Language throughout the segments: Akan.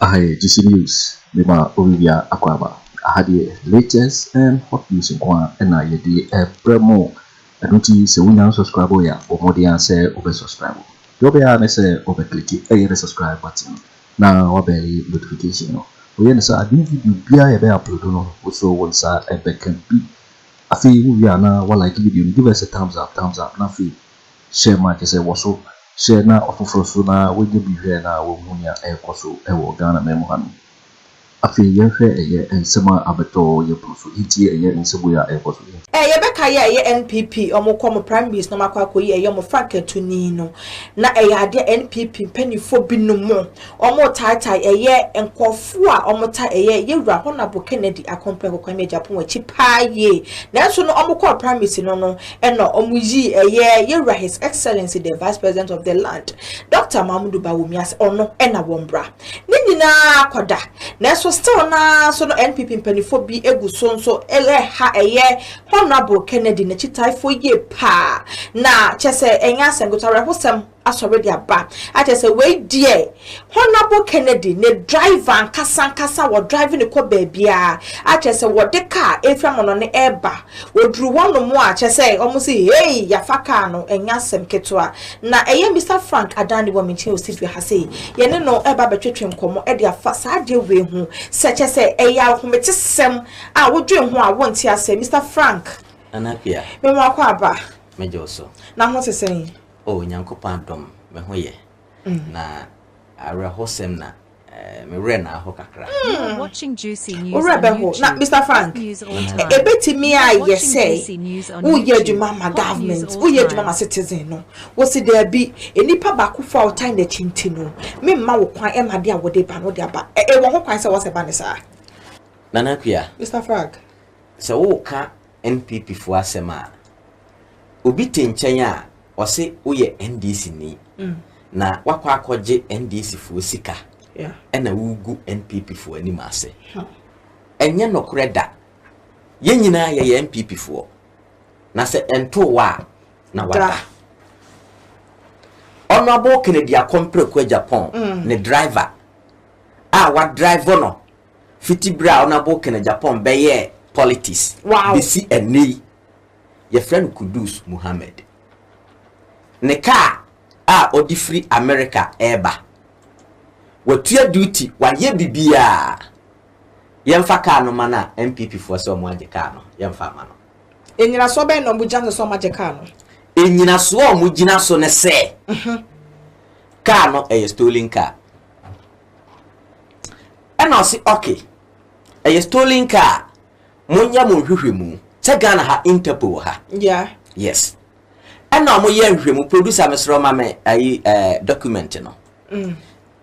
Aha yɛ GC News de ma Olivia Akwaba. Aha deɛ latest and hot news nko ara na yɛde rebrɛ mo. Ɛno nti sɛ wonya unsubscribe yɛ a bɔ mmɔden ara sɛ wobɛ subscribe. Deɛ wobɛyɛ ara ne sɛ wobɛ click ɛyɛ the subscribe button no na wabɛli notification no. Woyɛ no saa a new video biara a yɛbɛ upload no wo so wo nsa bɛka bi. Afei wo wie a na wa like video no, give us a thumbs up, thumbs up, na afei share ma kyerɛ sɛ wɔ so share na ɔfoforɔ so na wanya bi hwɛ na wahu nea ɛrekɔ so wɔ Ghana man mu hanom. Afei yɛnhwɛ ɛyɛ nsɛm a abɛtɔ yɛ po so nti ɛyɛ nsɛbue a ɛɛkɔ so nti. Ɛɛ yɛbɛka yɛ ɛyɛ NPP ɔmo kɔ ɔmo primaries na ɔmo akɔ akɔyi ɛyɛ ɔmo frankatu nii no na ɛyɛ adeɛ a NPP mpaninfoɔ bi no mo ɔmo tae tae ɛyɛ nkorɔfoɔ a ɔmo tae ɛyɛ yɛwura Honable Kennedy Akompreh Kokwame Agyapong akyi paa yie nanso no ɔmo kɔɔ primaries no no ɛna ɔmo yii ɛyɛ yɛwura His Excellency the Vice President of the land Doctor Mamodu Bawumia sɛ ɔno ɛna wɔn bra. Ne nyinaa kɔ da, nanso still no ara nso no NPP mpanyinfoɔ bi gu so nso reha ɛyɛ Honourable Kennedy n'akyitaafoɔ yie paa na kyɛ sɛ ɛnyɛ asɛm ketewa awerɛhosɛm asɔre de aba akyɛ sɛ wei deɛ Honourable Kennedy ne driver ankasa ankasa wɔ drive ne kɔ baabiara akyɛ sɛ wɔde kaa mfiri amɔnɔne ɛreba Wɔduru hɔnom a, kyerɛ sɛ, wɔse, Hei, yɛafa kaa no, ɛnyɛ asɛm ketewa. Na ɛyɛ Mister Frank Adani wɔ me nkyɛn wɔ studio ha sei. Yɛne no reba abɛtwetwe nkɔmmɔ de afa saa adeɛ wei ho sɛ, kyerɛ sɛ, ɛyɛ ahometesɛm a wodwen ho a wonte aseɛ. Mister Frank. Nana Appiah. Me mmoa kɔ aba. Megye wo so. Na ho te sɛn? Oh, Nyankopɔn adom, me ho yɛ. Na awerɛhosɛm na Me werɛ naa hɔ kakra. Wo werɛ bɛho na Mister Frank, ebetumi ayɛ sɛ woyɛ adwuma ma government, woyɛ adwuma ma citizen no. Wosi daabi, nipa baakofo a ɔtan n'akyi nti no, me mma wo kwan ma de a wɔde ba no de aba. Ɛwɔ ho kwan sɛ wɔsɛ ba no saa? Nana Akua. Mister Frank. Sɛ woka. NPP foɔ asɛm a, obi te nkyɛn a ɔse woyɛ NDC ni na wakɔ akɔgye NDC foɔ sika ɛna wogu NPP foɔ anim ase. Ɛnyɛ nokorɛ da. Yɛn nyinaa yɛyɛ NPP foɔ. Na sɛ ɛntoo wa a, na wada. Honorable Kennedy Akompreko Agyapong mm. ne driver a wadrive no fiti bere a Onabo kena Japan bɛyɛɛ politics besi ɛnnɛ yi. Yɛfrɛ no Kudus Muhammad. Ne kaa a ɔde firi Amerika reba. Watua duty, wayɛ biribiara. Yɛmfa kaa no mma no a, NPPfoɔ sɛ wɔagye kaa no, yɛmfa mma no. Nnyinasoɔ bɛn na wɔgyina so sɛ wɔagye kaa no? Nnyinasoɔ a wɔgyina so ne sɛ, kaa no yɛ stolen car. Ɛna ɔse ok ɛyɛ stolen car a monyɛ mo nhwehwɛmu sɛ Ghana ha interpol wɔ ha Yeah. yes ɛna ɔmo yɛ nhwehwɛmu producer mesrɛ ɔma me ayi ɛɛ document no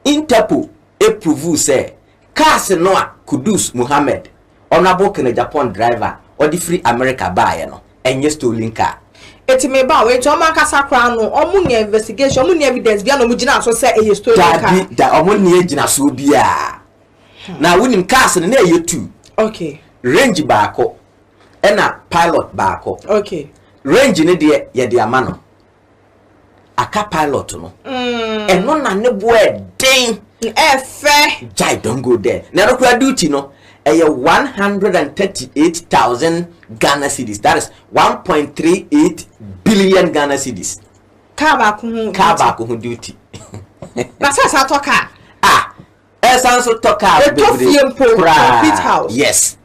interpol approve sɛ cars no a Kudus Mohammed Honourable Kenneth Agyapong driver a ɔde firi America baeɛ no nyɛ stolen car. Eti me ba o, enti ɔmo ankasa koraa no ɔmo nni investigation, ɔmo nni evidence biara na ɔmo gyina so sɛ ɛyɛ stolen car? Dabi, da, ɔmo nni agyinasoɔ biara. Na wonim cars no na ɛyɛ two. Okay. Range baako, ɛna Pilot baako. Okay. Range no deɛ yɛde ama no. aka pilot no mm. ɛno na ne boɔ ɛden ɛfɛ gyae don go there na ɛno koraa duty no ɛyɛ one hundred and thirty eight thousand ghana cedis that is one point three eight billion ghana cedis kaa baako ho kaa baako ho duty na sɛ saa tɔ kaa ah Ɛsan so tɔ kaa bebree koraa. Ɛtɔ fie mpo complete house. Yes.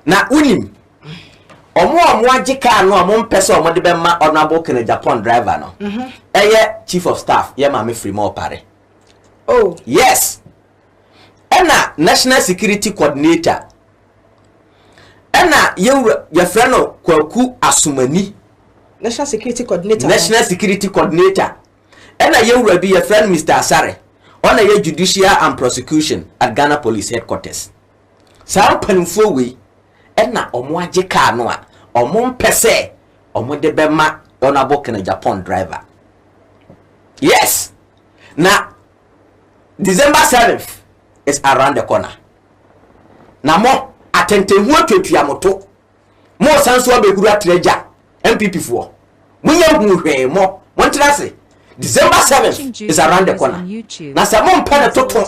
Na wonim ɔmo a ɔmo agye kaa no a ɔmo mpɛ sɛ ɔmo de bɛma honourable kene japan driver no mhm. ɛyɛ chief of staff yɛ maame firi mu ɔpare oh. yes ɛna national security coordinator ɛna yɛwura yɛfrɛ no kwaku asomani national security coordinator national security coordinator Ɛna yɛn wura bi yɛfrɛ no Mister Asare, ɔna yɛ Judicial and Prosecution at Ghana Police Headquarters. Saa mpanimfoɔ wei na wɔagye kaa no a wɔmpɛ sɛ wɔde bɛma Honourable Ken Agyapong driver. Yes, na December 7th is around the corner. Na mo atɛntɛnhu atuatua mo to. Mo san so abɛhuru atra agya NPP foɔ. Mo nyɛ nhuu hwee mo montena ase December 7th is around the corner na sɛ mompɛ no toto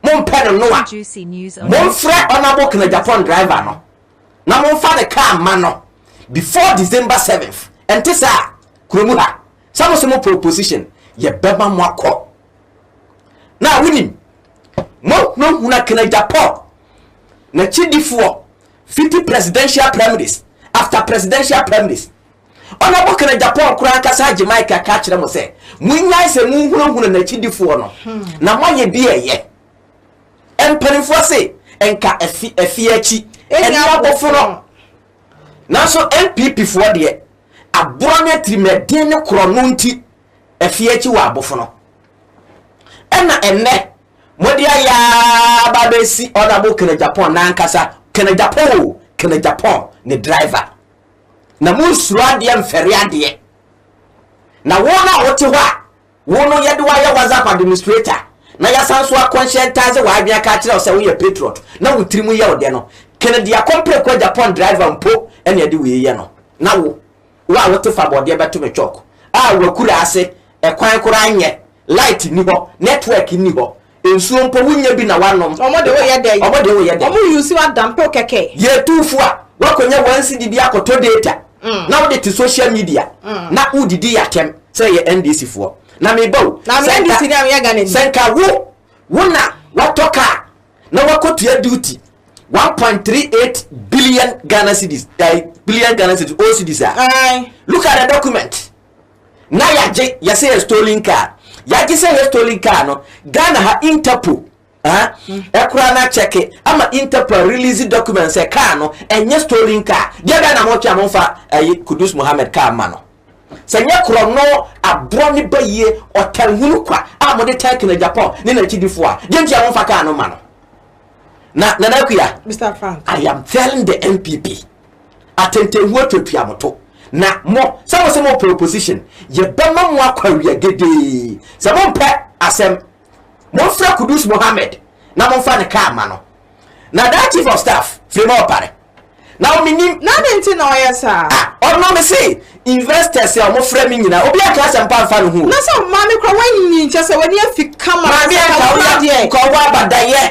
mompɛ no no a momfrɛ Honourable Knajapon driver no na momfa ne car mma no before December 7th ɛnte saa kurom ha sɛ mo se mopɛ opposition yɛbɛma mo akɔ na wonim mohunahuna Knajapon n'akyidifoɔ Fiti presidential primaries after presidential primaries ɔna bɔkana Japan koraa ankasa agye Mike aka akyerɛ mo sɛ monnyae sɛ monhunahuna n'akyidifoɔ no na moayɛ bi ɛyɛ mpanimfoɔ se nka afi afie akyi ɛne abofono nanso NPP foɔ deɛ aborɔ ne atirimaden ne korɔno nti afie akyi wɔ abofono ɛna ɛnnɛ Mode ayɛ ara ba abɛsi Honourable Kenneth Agyapong n'ankasa, Kenneth Agyapong o, Kenneth Agyapong ne driver. Na monsuro adeɛ mfɛre adeɛ. Na wo no a wote hɔ a, wo no yɛde wo ayɛ WhatsApp administrator, na yɛasan so akɔnhyɛntaase w'adwene aka akyerɛ wo sɛ woyɛ patriot, na wo tiri mu yɛ wo dɛ no, Kennedy Akompreko Agyapong driver mpo na ɛde wei yɛ no. Na wo. Wo a wote fa bɔdeɛ bɛto me chalk a wakura ase Ɛkwan koraa nyɛ, light nni hɔ, network nni hɔ Nsuo mpo wonnya bi na woanom Ɔmo de woyɛ dɛn? Ɔmo de woyɛ dɛn? Ɔmo use wo adampeo kɛkɛ. Yɛtu fo a, woakɔnya one cedi bi akɔtɔ data na wode te social media na wodidi yɛ atɛm sɛ yɛ NDC foɔ Na meba o, sɛ nka, sɛ nka wo, wo na woatɔ car, na wakotua duty one point three eight billion ghana cedis eh, billion ghana cedis o cedis a look at the document na yɛagye yɛsɛ yɛ stolen car yɛagye sɛ yɛ stolen car no ghana ha interpol ɛkora hmm. no akyɛke ama interpol release document sɛ car no ɛnyɛ stolen car deɛ bɛɛ na motwe a momfa ɛyi kudus mohammed car ma no Sɛ nyɛ korɔno, aborɔ ne bayie, ɔtanhunu kwa a mode tan Kinagyapɔn ne n'akyidifoɔ a, deɛ nti a momfa kaa no mma no? Na Nana Akua, Mister Frank, I am telling the NPP, atɛntɛnhuo tuatua mo to. Na mo, sɛ mo se mo pɛ opposition, yɛbɛma mo akɔ awia gedee. Sɛ mompɛ asɛm, momfrɛ Kudus Mohammed na momfa ne kaa mma no. Na that Chief of Staff, Flemore Opare, na wɔn nim. Na adi nti na ɔyɛ saa. A ɔno me se investors a wɔn frɛ me nyinaa obi anka asɛm pa nfa ne ho o. Na sɛ maame kura wanyin kyɛ sɛ wani afi kama. Maame a nka woyɛ adeɛ. Nka ɔwɔ abadayɛ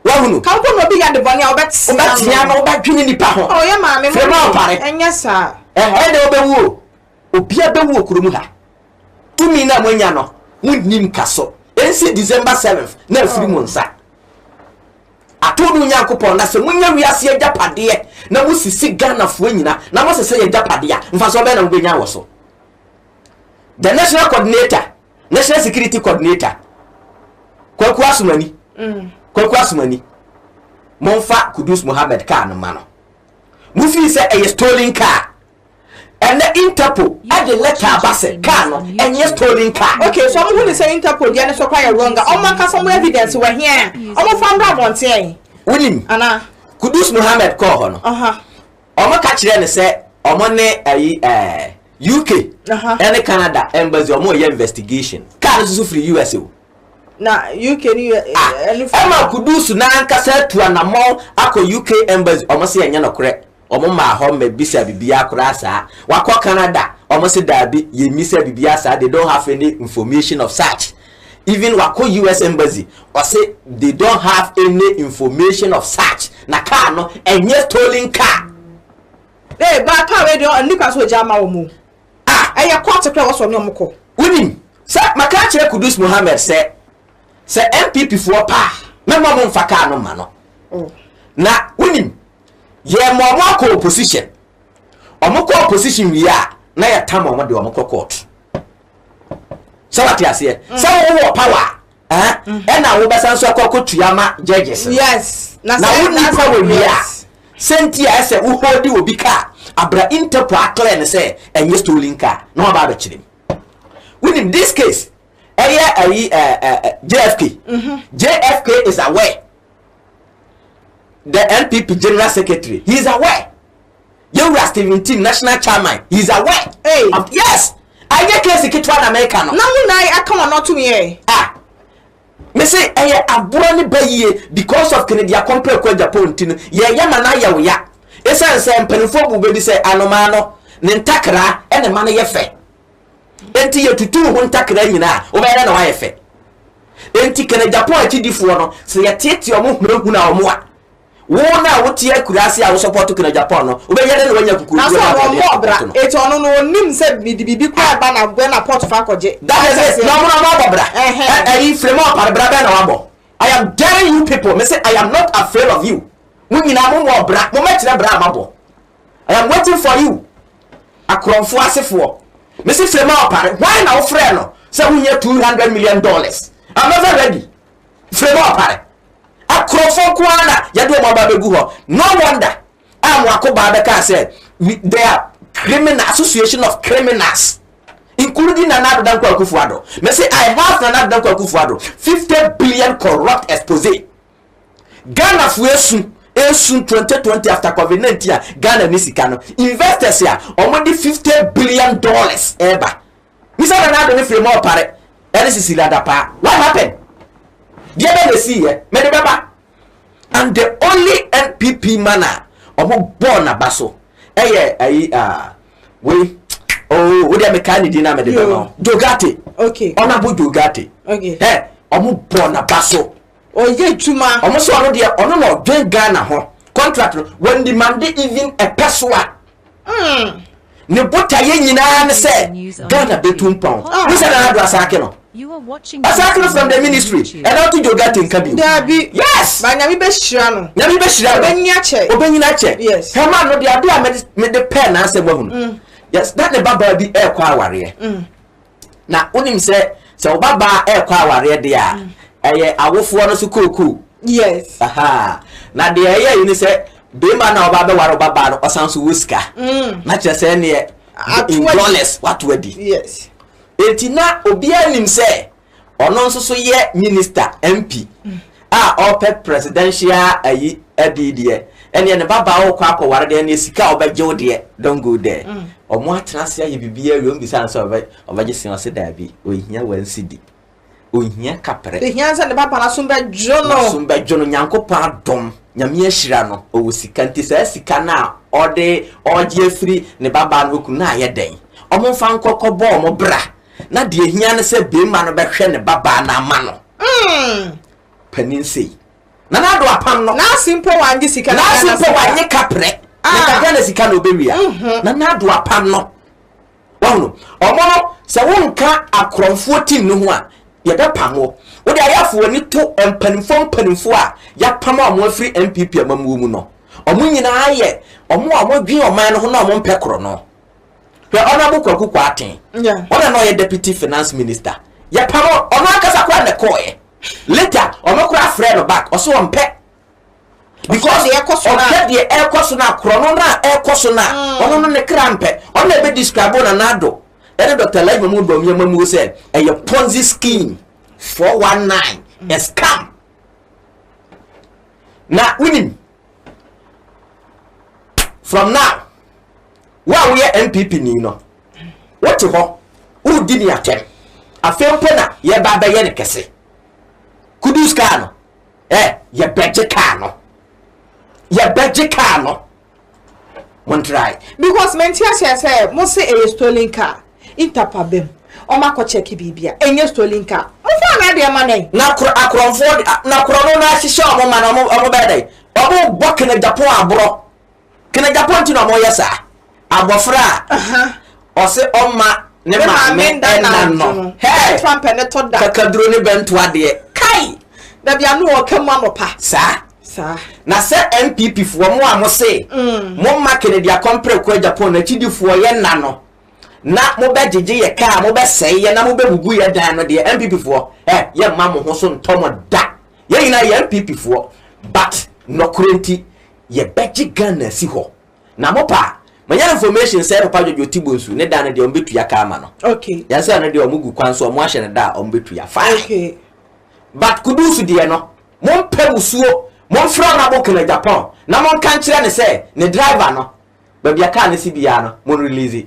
wahunu. Ka mpo na obi yɛ ade bɔne a ɔbɛ tea no. Ɔbɛ tea no ɔbɛ dwene nipa ho. Ɔyɛ maame mo nim ɔpare. Ɛnyɛ saa. Ɛhɛɛ na ɔbɛ wu o. Obia bɛ wu okuro mu ha. Tumi na mo anya no mo nim ka so. Ɛnsi December seventh na afiri mo nsa. Ato no Nyankopɔn na sɛ monya wiase agyapadeɛ na mosisi Ghanafoɔ nyina na mosesa yɛ agyapadeɛ a, mfasoɔ bɛn na mobɛnya wɔ so? The National Coordinator, National Security Coordinator, Kwaku Asomani, mm. Kwaku Asomani, momfa Kudus Mohammed kaa no ma no. Mofii sɛ ɛyɛ stolen car. ɛnɛ interpol ɛde lɛta aba sɛ car no ɛnyɛ stolen car. Okay so ɔmo hu ne sɛ interpol deɛ ne so kora yɛ wrong a ɔmo ankasa ɔmo evidence wɔ hea a ɔmo fa mbra abɔnten ɛyi. Wunim. Ana. Kudus Mohammed kɔɔ hɔ no. Aha. Ɔmo ka kyerɛ ne sɛ ɔmo ne ɛyi ɛɛ UK. Aha. Ɛne Canada embassy ɔmo yɛ investigation. Car no soso firi US o. Na UK ni yɛ ɛnu firi. Ɛma Kudus n'ankasa atu anamɔ akɔ UK embassy ɔmo sɛ ɛnyɛ nɔkorɛ. Ɔmo maa hɔ mɛ bisa bibia koraa saa. Wakɔ Canada? Ɔmo se daabi yɛ misa bibia saa they don't have any information of such. Even wakɔ US embassy ɔse they don't have any information of such na car no ɛnyɛ stolen car. Hey baa car wei deɛ ɛnni kwan sɛ ɔgya ama wɔn o. Ah! Ɛyɛ court kora wɔsɔ ne wɔn kɔ. Wonim sɛ maka akyerɛ Kudus Mohammed sɛ sɛ NPP foɔ paa mɛma ɔmo nfa car no mma no. Oh. Na wonim Yɛ ma ɔmo akɔ opposition. Ɔmo kɔ opposition wie a na yɛ tam ɔmo de ɔmo kɔ court. Sɛ wate aseɛ mm. sɛ wo wɔ power a mm-hmm. ɛna wo bɛsan so akɔ akɔ tua ma judges. Yes. Na wo ni power wie a sɛ nti a ɛsɛ wo hold obi kaa abira interpol akɔlɛ ne sɛ ɛnyɛ stolen car na wɔn aba abɛkyerɛ mu. Wonim this case ɛyɛ ayi ɛɛ ɛɛ JFK. Mm-hmm. JFK is aware. The NPP General Secretary, he is aware. Yewura Stephen Team, National Chairman, he is aware. Hey. Of, yes! Anyɛ case ketewa na mɛka no. Na wo nan aka wɔn ato me yɛ. Ah! Me se ɛyɛ aboa ne ba yie because of Kennedy Akompere Kɔ Agyapong nti no yɛyɛ ma no ayɛ wo ya. Esiane sɛ mpanimfoɔ bu bɛ bi sɛ anomaa no ne ntakra na ɛma no yɛ fɛ. Enti yɛtutuu ho ntakra nyinaa a, wobɛyɛ dɛ na woayɛ fɛ. Enti kɛnɛ Japan akyidifoɔ no, sɛ yɛteetee wɔn hunahuna wɔn a, wo no a wote akuraase a wosɔpɔɔto kɛnɛ Japan no, wobɛyɛ dɛ na woanya akukurukuo ne aboɔden a wɔpɔɔto no. Enti ɔno no, ɔnnim sɛ mede biribi koraa reba na bɛ na pɔɔto fa kɔgye. That is it, na wɔn na wɔabɔ bra. Ɛ, ayi, frame a ɔpare bra bɛn na wabɔ? I am daring you people, mese I am not afraid of you. Mo nyinaa mommɔɔ bra, mommɛkyerɛ bra a mabɔ. I am waiting for you akorɔmfoɔ asefoɔ mese frema ɔpare hwan na wofrɛ no sɛ wohia 200 million dollars I'm ever ready frema ɔpare akorɔmfoɔ nko ara na yɛde wɔn aba bɛgu hɔ no wonder a mo akobaa bɛkaa sɛ they are criminal association of criminals including Nana Addo Dankwa Akufo-Addo mese I have Nana Addo Dankwa Akufo-Addo 50 billion corrupt expose Ghana foɔ esu esu twenty twenty after covid nineteen a Ghana ni sika no investors a wɔn de fifty billion dollars ɛɛba misa na n'ado ne firi mu ɔpare ɛne sisi lada paa what happen deɛ bɛ na esi yɛ mɛ de bɛ ba and the only npp man a wɔn bɔɔ n'aba so ɛyɛ ayi aa ah, wei oo oh, o deɛ mɛ kaa ne din na mɛ de bɛ ma o jogate ɔnabo jogate ɛ wɔn bɔɔ n'aba so. Ɔyɛ adwuma. Ɔmo sɛ ɔno deɛ ɔno na ɔdwen Ghana ho contract no wɔn demande even ɛpɛ so a ne botaeɛ nyinaa ne sɛ Ghana bɛtu mpɔn wohu sɛ Nana Addo Asaake no Asaake no from the ministry ɛna ɔto Jogate nka bio Daabi yes ba nyame bɛhyira no nyame bɛhyira no ɔbɛnyini akyɛ ɔbɛnyini akyɛ yes hɛma no deɛ adeɛ a mede pɛɛ n'asɛm wahu no yes na ne babaa bi ɛɛkɔ awareɛ na wonim sɛ sɛ wo babaa ɛrekɔ awareɛ deɛ a ɛyɛ awofoɔ no so kookoo Yes. Aha. na deɛ ɛyɛ yi ne sɛ bɛrima no a ɔba bɛware wo babaa no ɔsan so wɔ sika na kyerɛ sɛ neɛ Ato in adi. dollars wato adi Yes. enti na obiara nim sɛ Ɔno nso so yɛ minister, MP, a ɔpɛ presidential ayi adi deɛ, ɛneɛ ne ba baa ɔkɔ akɔ ware deɛ, ɛneɛ sika a ɔbɛgye wo deɛ, don't go there. Ɔmo atena ase ayɛ biribi awie, ɔmo bisa no sɛ ɔbɛgye sɛn, ɔse daabi, ɔnhia one cedi, ɔnhia kaprɛ. Deɛ hia ne sɛ ne ba baa n'asom bɛdwo no. N'asom bɛdwo no, Nyankopɔn adom, Nyame ahyira no, ɔwɔ sika, nti saa sika no a ɔde, ɔgye afiri ne ba baa no hɔ kunu no ayɛ dɛn? Ɔmo nfa nkɔ kɔbɔ ɔmo bra, Na deɛ ɛhia ne sɛ beema no bɛhwɛ ne babaa no ama no. Mm. Panin sei. Na n'ado apam no. N'ase mpo wanye sika na Ghana sika. N'ase mpo wanye kaprɛ. Ah. Na ka Ghana sika na obewia. Mm -hmm. Na n'ado apam no. Wɔn no, wɔn no sɛ wonka akorɔmfoɔ tim no ho a, yɛbɛpam wo. Wode ayɛfo w'ani to mpanimfoɔ mpanimfoɔ a yɛapam a wɔn afiri NPP amamuo mu no. Wɔn nyinaa yɛ wɔn a wɔdwen ɔman no ho na wɔn mpɛ korɔ no. Hwɛ Honourable Kwaku Kwarteng, ɔno a na ɔyɛ Deputy Finance Minister, yɛpam no, ɔno ankasa koraa na ɛkɔɔeɛ. Later, ɔno koraa frɛɛ no back, ɔse ɔmpɛ. Because ɔhwɛ deɛ ɛrekɔ so no a, korɔno no a ɛrekɔ so no a, ɔno no ne kra mpɛ. Ɔno na ɛbɛ describe Nana Addo ne Dr. Alhaji Mahmood Bawumia Mamuo sɛ ɛyɛ Ponzi scheme, 419, a scam. Na wonim, from now wo a woyɛ npp ni no wote hɔ woredi ne atɛm afei mpo na yɛba bɛyɛ no kɛse kudus kaa no ɛ eh, yɛbɛgye kaa no yɛbɛgye kaa no montrae because menti aseɛ sɛ mo se ɛyɛ stolen car Ntapa bɛm ɔmo akɔ check biribi a ɛnyɛ stolen car mo faa no adeɛ ma dɛn. Na koro akorɔmfoɔ de na korɔ no na ahyehyɛ ɔmo ma na ɔmo ɔmo bɛyɛ dɛn ɔmo bɔ kenegyapon aborɔ kenegyapon nti na ɔmo yɛ saa abɔfra a ɔse ɔma ne maame nda nanno hɛɛ kakaduro ne bɛnto adeɛ kai dabi ano wɔ ɔka mu anɔpa saa saa na sɛ npp foɔ mo a mo se mm. mo ma kenegyakɔn prɛko agyapon no akyidifoɔ yɛ nna no na mobɛgyegye yɛ kaa, mobɛsɛe yɛ na mobɛbubu yɛ dan no deɛ NPP foɔ ɛ, yɛ mma mo ho so ntɔ mo da. Yɛ nyinaa yɛ NPP foɔ but nɔkorɛ nti yɛ bɛgye Ghana asi hɔ. Na mo paa, manya information sɛ Papa George Oti Bonsu ne dan no deɛ ɔmo bɛtua kaa ama no. Yɛn sɛ no deɛ ɔmo gu kwan so ɔmo ahyɛ no da a ɔmo bɛtua fine. But Kudus deɛ no, mo mpɛ musuo, mo mfrɛ Honourable Kenneth Agyapong na mo nka nkyerɛ no sɛ ne driver no, Baabi a car no si biara no mo release.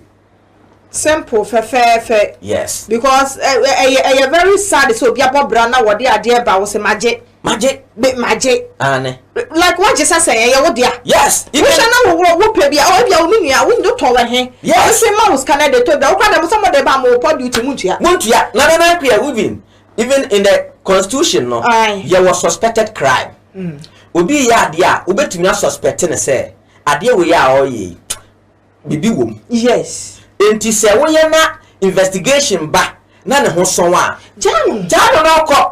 Simple fɛfɛɛfɛ. Yes. Because ɛyɛ ɛyɛ very sad sɛ obi abɔ bra na wɔde adeɛ ba wo sɛ magye. Magye. Be magye. Aane. Like wagye sɛ sɛ ɛyɛ wo dea. Yes. Even. Wohwɛ na wo wo pɛ bi a ɔ ebia wo me nua wo ndo tɔ wɔ he. Yes. Ɔbɛsɛ ma wo sika na de tɔ bi a wokura na mo sɛ mo de ba mo pɔ duty mo ntua. Mo ntua na na na kuya even even in the constitution no. Aye. Yɛ wɔ suspected crime. Mm. Obi yɛ adeɛ a wobɛtumi asuspect ne sɛ. Adeɛ wei a ɔreyɛ yi, biribi wɔ mu. Yes. Enti sɛ woyɛ na investigation ba na ne ho sɔn a. Gyaa no. Gyaa no na ɔkɔ.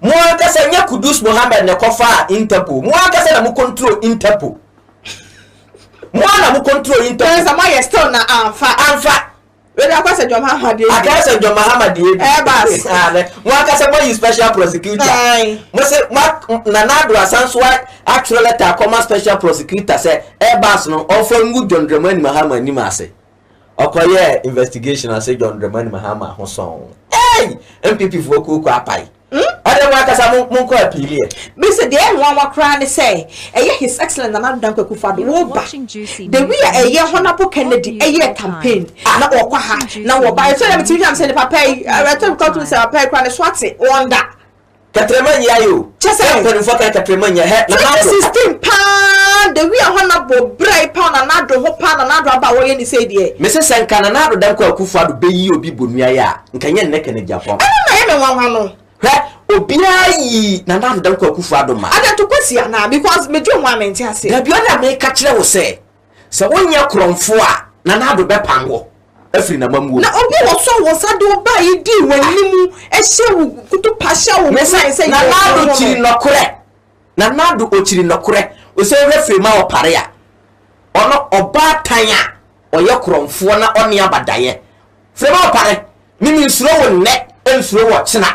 Mo ankasa, nyɛ Kudus Mohammed na ɛkɔfaa Interpol. Mo ankasa na mo control Interpol. Mo ara na mo control Interpol. Nansa moayɛ still na amfa. Amfa. Wei deɛ akɔsɛ John Mahama deɛ bi. Akɔsɛ John Mahama deɛ bi. Ɛbas. Mo ankasa mo ayi special prosecutor. Ayi. Mo se mo Nana Addo asan so atwerɛ lɛta akɔma special prosecutor sɛ Ɛbas no ɔnfa ngu John Dramani Mahama anim ase. Ɔkɔyɛɛ investigation ɔse John Dramani Mahama ho sɔn. Ei! NPP foɔ kuo kɔ apae. Hmm? Ɔde mo ankasa mo mo nkɔ apiili yɛ. Me se deɛ ɛnwanwa koraa ne sɛ ɛyɛ His Excellent Nana Addo Dankwa Akufo-Addo woba. The way a ɛyɛ Honourable Kennedy ɛyɛɛ campaign na ɔkɔ ha na wɔba yɛ so na metumi hwɛ sɛ nipa pɛ yi ɛtɔ mi kɔ to sɛ papa yi koraa ne so ate wɔn da. Kɛtrɛma nyia yi o. Kyɛ sɛ. Mpanimfoɔ kan kɛtrɛma nyia hɛ Nana Addo. 2016 paa the way a Honourable brɛ yi paa Nana Addo ho paa Nana Addo aba a wɔyɛ ne sei deɛ. Me se sɛ nka Nana Addo Dankwa Akufo-Addo bɛyi obi bonua yɛ a. Nka ɛnyɛ nnɛ Canadiafo. Ɛno na ɛyɛ me nwanwa no. Hwɛ, obiara yi Nana Ado Dankwa Akufo Addo ma. Ada to Kwasi anaa? Because me dwen ho a mente ase. Dabi ɔno na meka kyerɛ wo sɛ, sɛ wonyɛ korɔmfo a, Nana Ado bɛpam wo afiri n'amamuo mu. Na obi a ɔsɔ wo nsa de wo baa yi dii w'anim hyɛ wo kutupa hyɛ wo nsa sɛ yɛ Nana Ado kyiri nɔkorɛ. Nana Ado ɔkyiri nɔkorɛ. Ɔsɛ wohwɛ firi ma ɔpare a, ɔno ɔbaatan a ɔyɛ korɔmfoɔ na ɔne abadaeɛ. Firi me ɔpa ne me me nsuro wo nnɛ nsuro wɔ kyena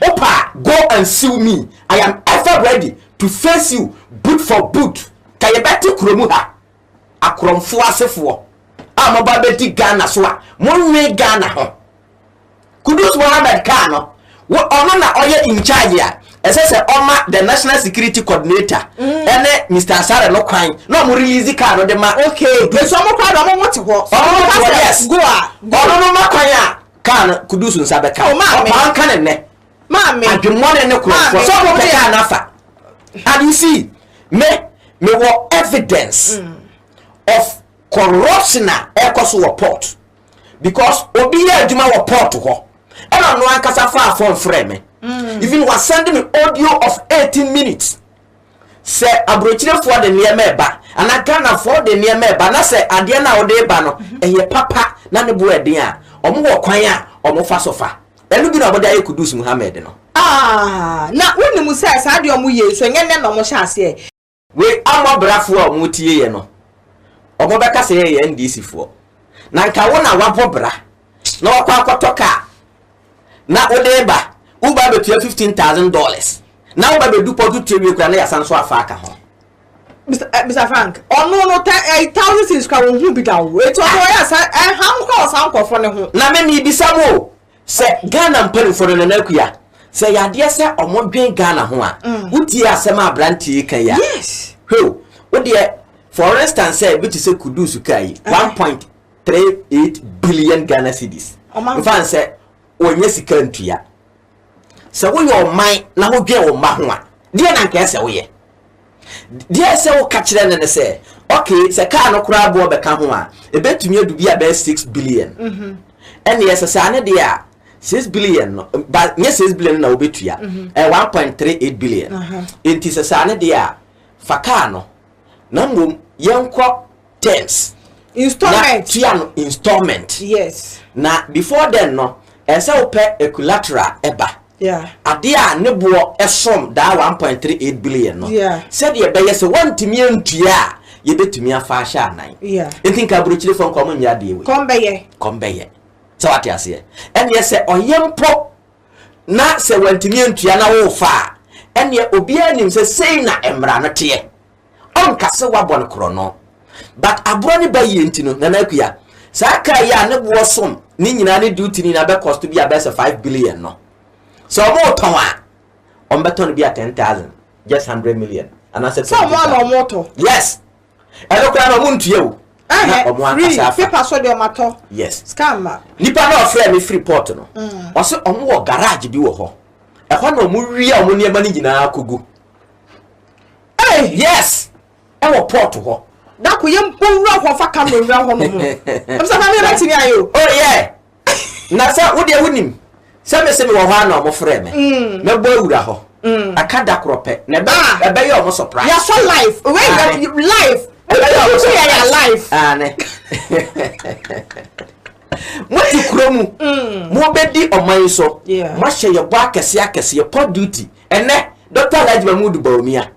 wo pa a go and sue me I am ever ready to face you boot for boot ka yɛ bɛ te kuro mu ha akorɔmfoɔ asefoɔ a mo ba bɛ di Ghana so a mo nwe Ghana ho Kudus Mohammed kaa no Wo ɔno na ɔyɛ in charge a ɛsɛ sɛ ɔma the national security coordinator ɛne Mister Asare no kwan na ɔmo release car no de ma Okay, Kudus. nti ɔmo koraa de ɔmo ho te hɔ. Sɛ Ɔmo ɔmo ho ka te hɔ, sɛ yes. go a, go. Ɔno no ma kwan a car no Kudus nsa bɛka. Oh, maame. Ɔpaa nka ne nnɛ. Maame. Adwemmɔne ne korɔmfoɔ Maame, sɛ ɔmo pɛ wodeɛ. car no afa. And you see, me, mewɔ evidence of corruption a ɛkɔ so wɔ port. because obi yɛ adwuma wɔ port hɔ ɛna ɔno ankasa faa phone frɛ me mm. even wasend me audio of 18 minutes sɛ aburokyerefoɔ de nneɛma ɛba anaa ghanafoɔ de nneɛma ɛba na sɛ adeɛ no a wɔde ba no mhm. ɛyɛ papa na ne bo ɛden a wɔn wɔ kwan a wɔn fa so fa ɛno bi na wɔde ayɛ kudus muhammed no. Ah, na wonnim sɛ saa deɛ wɔn yɛ so nyɛ nnɛ na wɔhyɛ aseɛ. Wei ama brafoɔ a ɔmo tie yɛ no ɔmo bɛka sɛ yɛ yɛ NDC foɔ na nka wo na wabɔ bra na wakɔ akɔtɔ car na wode reba wo ba bɛtua fifteen thousand dollars na wo ba bɛdu pɔ to tie wie kura na yasan so afa aka ho. Mr. Eh, Mr. Frank, ɔno no ta eh, thousand cities kura wɔn ho bi da o. Eti ɔno ɔyɛ asa ɛham kura ɔsan nkɔfo ne ho. Na me mi bisa mo o, Sɛ Ghana mpanimfoɔ no, Nana Akua, sɛ ɛyɛ adeɛ sɛ wɔdwen Ghana ho a, mm. wotie asɛm a aberanteɛ yi ka yi a, hwɛo, wodeɛ, for instance sɛ ebi te sɛ Kudus kaa yi, eh. one point three eight billion Ghana cedis. Nfa nsɛ, wɔnyɛ sika ntua. Sɛ woyɛ ɔman na wodwen wo mma ho a, deɛ na nka ɛsɛ woyɛ. Deɛ ɛsɛ woka kyerɛ no ne sɛ, okay, sɛ kaa no koraa boɔ bɛka ho a, ɛbɛtumi adu bi a bɛyɛ six billion. Mhm. Ɛnneɛ sɛ saa ne deɛ a, six billion no, ba nyɛ six billion no na wobɛtua, mhm. ɛyɛ one point three eight billion. Nti sɛ saa ne deɛ a, fa kaa no, na mmom yɛnkɔ terms. installment na tua no installment. yes. na before then no ɛsɛ wopɛ a collateral ɛba. yeah. adeɛ a ne boɔ ɛsom daa one point three eight billion no. yeah. sɛdeɛ ɛbɛyɛ sɛ wɔntumi ntua a yɛbɛtumi afa ahyɛ anan. yeah. nti nka aburokyire fɔ nkɔm nyɛ adeɛ wei. kɔm bɛyɛ. kɔm bɛyɛ sɛ wate aseɛ ɛneɛ sɛ ɔyɛ mpo na sɛ wɔntumi ntua na wofa a ɛneɛ obiara nim sɛ sei na mmara no teɛ. ɔnka sɛ wabɔ no korɔno but aborɔ ne ba yie nti no Nana Akua saa car yi a ne boɔ som ne nyinaa ne duty ne nyinaa bɛ cost bi a bɛyɛ sɛ five billion no sɛ ɔmo tɔn a ɔmo bɛ tɔn no bi a ten thousand just hundred million anaasɛ Sɛ ɔmo a na twenty ɔmo tɔ. yes ɛno koraa na ɔmo ntua o na Ɛhɛ ɔmo free ankasa afa paper so deɛ ɔmo atɔ. yes Sika mma. nipa na ɔfrɛ me firi port no ɔse ɔmo wɔ garage bi wɔ hɔ ɛhɔ na ɔmo wia ɔmo nneɛma no nyinaa kɔgu Hey, yes! Ɛwɔ port hɔ. Dako yɛ mbɔ nwura hɔ fa camera nwura hɔ nom. Ɛbisa na mi yɛ tini ayɛ o. Oh yeah. Na sɛ wo deɛ wo nim sɛ me se me wɔ hɔ ana ɔmo frɛ me. Mm. Me bɔ awura hɔ. Mm. Ɛka da korɔ pɛ. Na ɛbɛ ah. ɛbɛ yɛ ɔmo surprise. Yɛ sɔ life. Wei yɛ life. Ɛbɛ yɛ ɔmo surprise. Yɛ life. Aane. Mo ti kuro mu. Mm. Mo bɛ di ɔman so. Mo ahyɛ yɛ bɔ akɛse akɛse yɛ pɔ duty. Ɛnnɛ, Dɔkta Alhaji Mahmood Bawumia,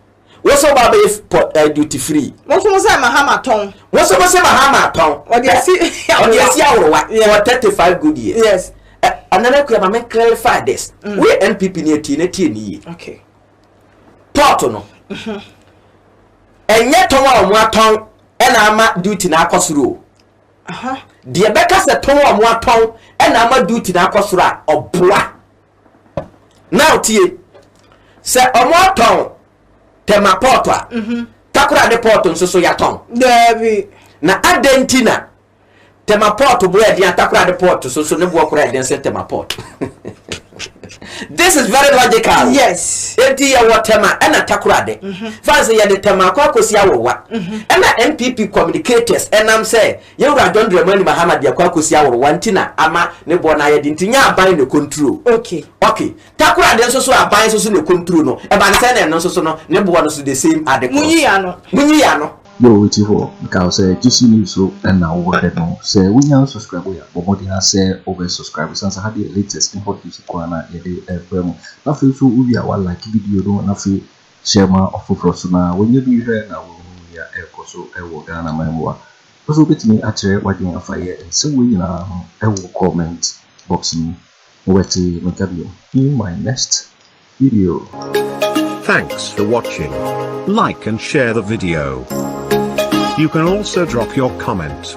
wo nso woba abɛyɛ port, eh, duty free. Monso mo sɛ Mahama tɔn. Monso mo sɛ Mahama tɔn. Ɔde asi aworowa. Ɔde asi aworowa yeah. for thirty five good years. Yes. Anana eh, kuya ma me clarify this. Mm. We NPP ni etie na etie ni yie. Okay. Port no. Mhm. Ɛnyɛ tɔn a wɔn atɔn ɛna ama duty na akɔ soro o. Aha. Deɛ bɛka sɛ tɔn a wɔn atɔn ɛna ama duty na akɔ soro a ɔboa. na ɔtie sɛ ɔmo atɔn tɛma pɔɔto a mhm. takora ne pɔɔto nso so yɛatɔn na adɛn nti na tɛma pɔɔto boɔ ɛden atakora ne pɔɔto so so ne boɔ kora ɛden sɛ tɛma pɔɔto this is very logical yes eti yɛwɔ tɛma ɛna takora de mhm. fansi yɛde tɛma akɔ akɔsi awɔwa mhm. ɛna npp communicators ɛnam sɛ Yɛn Wura John Dramani Mahama de ɛkɔ akosi aworowa nti na ama ne boɔ no ayɛ den nti nyɛ aban na ɛkonturo ok Takoradi nso so aban nso so na ɛkonturo no ɛban sɛn na ɛno nso so no ne boɔ no so the same ade korɔ Munyi y'ano. Munyi y'ano. Yo weti hɔ meka wo sɛ GC news so na wo hwɛ no sɛ wo nya unsubscribe yɛ a bɔ mmɔden ara sɛ wo bɛ subscribe ɛsiane sɛ ha deɛ latest ne hot news nko ara na yɛde brɛ mo na afei nso wo wie a wa like video no na afei Hyɛ ma ɔfoforɔ so na wanya bi hwɛ na wahunu nea ɛrekɔ so wɔ Ghana man mu a. Wopɛ sɛ wobɛtumi akyerɛ w'adwene afa yɛ nsɛm wei nyinaa ho wɔ comment box no mu. Wobɛte me nka bio in my next video. Thanks for watching. Like and share the video. You can also drop your comment.